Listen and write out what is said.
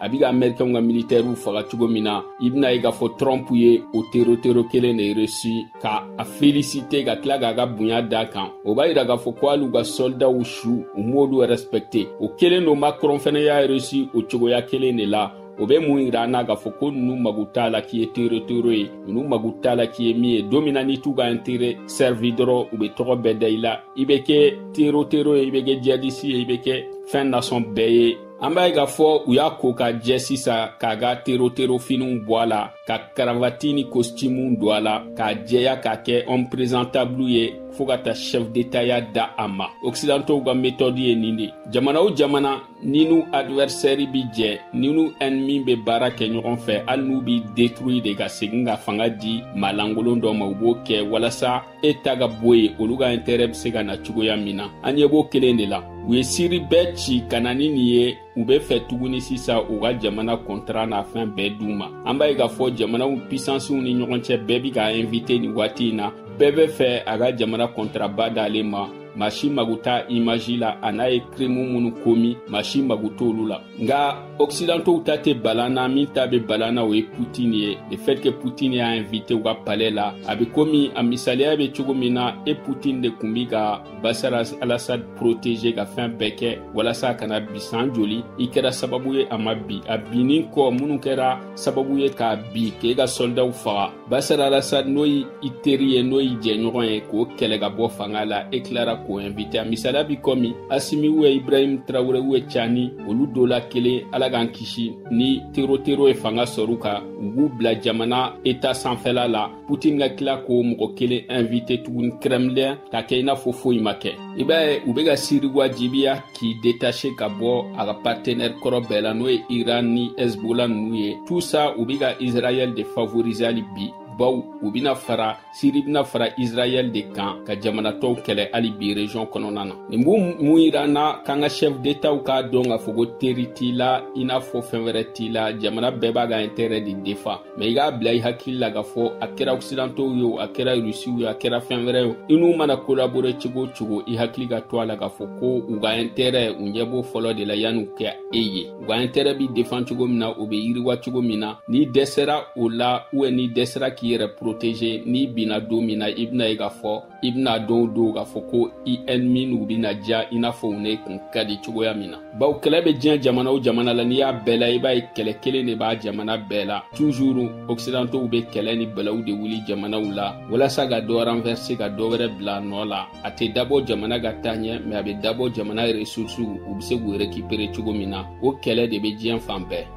a bɛ ka amerikɛnw ka militɛriw faga cogo min na i bɛn'a ye k'a fɔ trump ye o terotero kelen de resi ka a felisite ka tila k'a ka bonya d'a kan o b'a yira k'a fɔ ko hali u ka sɔlidaw su u m'olu rɛspɛkte o kelen don macron fɛnɛ y'a resi o cogoya kelen de la o bɛ mun yira an na k'a fɔ ko ninnu mago t'a la k'i ye terotero ye ninnu mago t'a la k'i ye min ye don min na n'i t'u ka intere sɛrivi dɔrɔn u bɛ tɔgɔ bɛɛ da i la i bɛ kɛ terotero ye i bɛ kɛ jiyadisi ye i bɛ kɛ fɛn nasɔn bɛɛ ye an b'a ye k'a fɔ u y'a ko ka jɛ sisan k'a ka teroterofiniw bɔ a la ka karavati ni kositimuw don a la k'a jɛya k'a kɛ homme présentable ye fɔɔ ka taa chef d'état ya d'a ma occidentaux ka metɔdi ye nin de jamana o jamana n'i n'u advɛrsɛri bi jɛ n'i n'u ɛnmi be baara kɛ ɲɔgɔn fɛ hali n'u b'i detruyi de ka segin ka fanga di maa lankolon dɔ ma u b'o kɛ walasa e ta ka bɔ yen olu ka intɛrɛ be se ka na cogoya min na an ɲɛ b'o kelen de la u ye siri bɛɛ ci ka na ni nin ye u be fɛ tuguni sisan u ka jamana kɔntara n'a fɛn bɛɛ d'u ma an b'a ye k'a fɔ jamanaw pisansiw ni ɲɔgɔn cɛ bɛɛ be k'a invite nin waati in na bɛɛ be fɛ a ka jamana kɔntaraba d'ale ma maa si mago t'a imaji la an'a ye kirimu minnu komi maa si mago t'olu la nka occidentaux ta tɛ bal'an na min ta bɛ bal'an na o ye putin ye le fait que putin y'a invité u ka palais la a bɛ komi a misaliya bɛ cogo min na e putin de tun bi ka basar alasad protéger ka fɛn bɛɛ kɛ walasa a kana bi san joli i kɛra sababu ye a ma bi a binni kɔ minnu kɛra sababu ye k'a bi k'e ka sɔldaw faga basar alasad n'o y i teri ye n'o y'i jɛɲɔgɔn ye k'o kɛlɛ ka bɔ fanga la e tilara k'o invite a misaliya bi kɔmi asimi ubiyɛn ibrahim traore ubiyɛn cani olu dɔ la kelen ala k'an kisi ni terotero ye fanga sɔr'u kan u b'u bila jamana eta sanfɛla la putin ka tila k'o mɔgɔ kelen invite tuguni kremlin ka kɛ i n'a fɔ foyi ma kɛ i b'a ye u bɛ ka siri wajibiya k'i detache ka bɔ a ka partenaire kɔrɔ bɛɛ la n'o ye iran ni hezbola ninnu ye tout ça u bɛ ka israɛl de favoriser hali bi baw u bɛna fara siri bɛna fara israɛl de kan ka jamana tɔw kɛlɛ hali bi region kɔnɔna na nin bɛ mun yira an na k'an ka chef d'etatw k'a dɔn k'a fɔ ko teri t'i la i n'a fɔ fɛn wɛrɛ t'i la jamana bɛɛ b'a ka intérêt de defan mɛ i k'a bila i hakili la k'a fɔ a kɛra occidentaux ye o a kɛra rusiw ye a kɛra fɛn wɛrɛ ye i n'u mana kolabore cogo o cogo i hakili ka to a la k'a fɔ ko u ka intɛrɛ u ɲɛ b'o fɔlɔ de la yanni u ka e ye u ka intɛrɛ bi defan cogo min na o bɛ yiriwa cogo min na n'i dɛsɛra o la ubiyɛn n'i dɛsɛra k'i yɛrɛ protege n'i binna don min na i bɛn'a ye k'a fɔ i bɛna dɔw dɔn k'a fɔ ko i ni minnu bɛna diya i n'a fɔ u nɛnkun ka di cogoya min na bawo kɛlɛ bɛ diɲɛ jamana o jamana la n'i y'a bɛɛ la i b'a ye kɛlɛ kelen de b'a jamana bɛɛ la tuzuru ɔkisidantow bɛ kɛlɛ ni balawu de wuli jamanaw la walasa ka dɔ ranfɛrse ka dɔ wɛrɛ bila nɔ la a tɛ dabɔ jamana ka taa ɲɛ mɛ a bɛ dabɔ jamana resursiw u bɛ se k'u rekipere cogo min na o kɛlɛ de bɛ diɲɛ fan bɛɛ